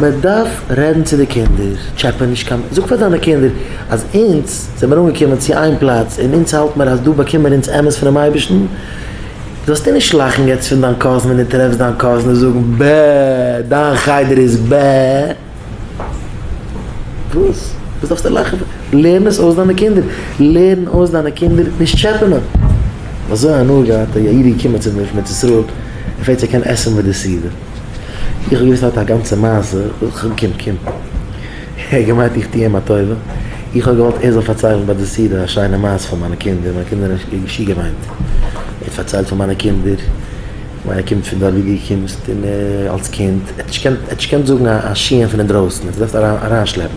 מען דארף רעדן צו די קינדער, טשעפע נישט קיין מענטש, זאג פאר דיינע קינדער אז אונז זעמיר אנגעקומען צו איין פלאץ און אונז האלט מיר אז דא באקומען מיר אונז אמת פונעם אייבערשטן, זאלסטו נישט לאכן יעצט פון דיין קאזין ווען דו טרעפסט דיין קאזין זאגן ב ה דיין חדר איז ב ה, וואס וואס דארפסטו לאכן פון, לערן עס אויס דיינע קינדער, לערן אויס דיינע קינדער נישט טשעפענען. כ'האב אזוי הנאה געהאט, א איד איז געקומען צו מיר פון ארץ ישראל, ער פרעגט צו ער קען עסן מיט די סעודה. איך האב געוואוסט ער האט א גאנצע מעשה, קום קום. ער האט געמיינט איך טו אים א טובה, איך האב געוואלט ער זאל פארציילן ביי די סעודה א שיינע מעשה פון מיינע קינדער, מיינע קינדער האבן נישט געשי געמיינט. ער האט פארציילט פון מיינע קינדער, כ'מיין ער קומט פון דארט ווי דו קומסט און אלס קינד, ער האט נישט געקענט זאגן א שיעור פון אינדרויסן, ער האט זיך געדארפט אריינשלעפן.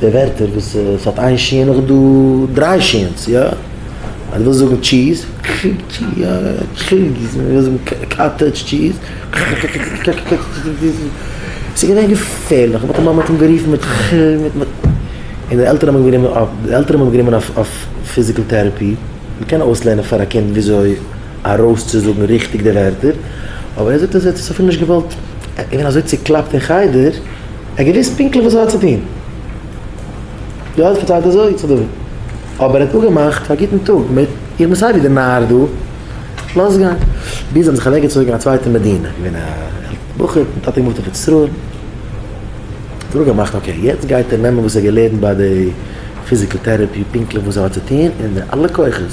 די ווערטער וואס עס האט איין שיען האט דא דריי שיענס יא אז די ווילסט זאגן טשיז טשיז ווילסט זאגן קאטעדזש טשיז ס'איז געווען געפערליך מיט די מאמע האט אים גערופן מיט כ מיט מ און די עלטערן האבן גענומען אויף די עלטערן האבן גענומען אויף אויף פיזיקעל טעראפי מען קען אויסלערנען פאר א קינד וויאזוי ארויסצוזאגן ריכטיג די ווערטער אבער ער זאגט אז ער האט עס אפילו נישט געוואלט ער איז געווען אזוי צוקלאפט אין חדר. ער האט געוואוסט פונקטליך וואס ער האט צו טון. דא האט פארציילט אזוי צו דוד, אבער ער האט אפגעמאכט א גוטן טאג מיט, איך בין סייווי דער נאר דא, לאז גיין. ביז זיי האבן זיך אוועקגעצויגן אין א צווייטע מדינה, געווען א עלטער בחור, דער טאטע געמופט אויף ארץ ישראל, האט ער אפגעמאכט אקעי יעצט גייט ער נעמען וואס ער האט געלערנט ביי די פיזיקעל טעראפי פונקטליך וואס ער האט צו טון און די אלע כוחות,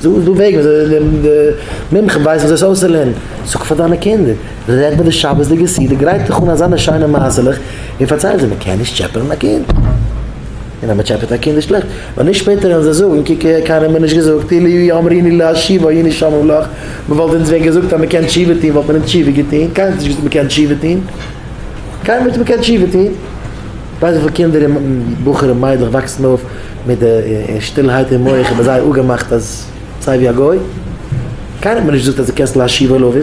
זאג דו וועגן די מומחה ווייסט וואס עס אויסצולערנען, זאג פאר דיינע קינדער, רעד מיט די שבת'דיגע סידור, גרייט דיך אן אזאנע שיינע מעשה'לעך און פארצייל זיי, מען קען נישט טשעפענען א קינד, און אז מען טשעפעט א קינד איז שלעכט, ווייל נישט שפעטער וועלן זיי זאגן, קוק קיינער האט מיר נישט געזאגט, אילו היו אומריני להשיב היינו שומרים לך, מען וואלט אונז ווען געזאגט אז מען קען תשובה טון וואלט מען אונז תשובה געטון, קיינער האט נישט געזאגט מען קען תשובה טון, קיינער האט נישט געזאגט מען קען תשובה טון, ווייסט וויפיל קינדער און בחורים מיידלעך וואקסן אויף. מיט די שטילהייט אין מח איבער זיי אפגעמאכט אז זיי ווי א גוי, קיינער האט מיר נישט געזאגט אז דו קענסט להשיב אל אביו.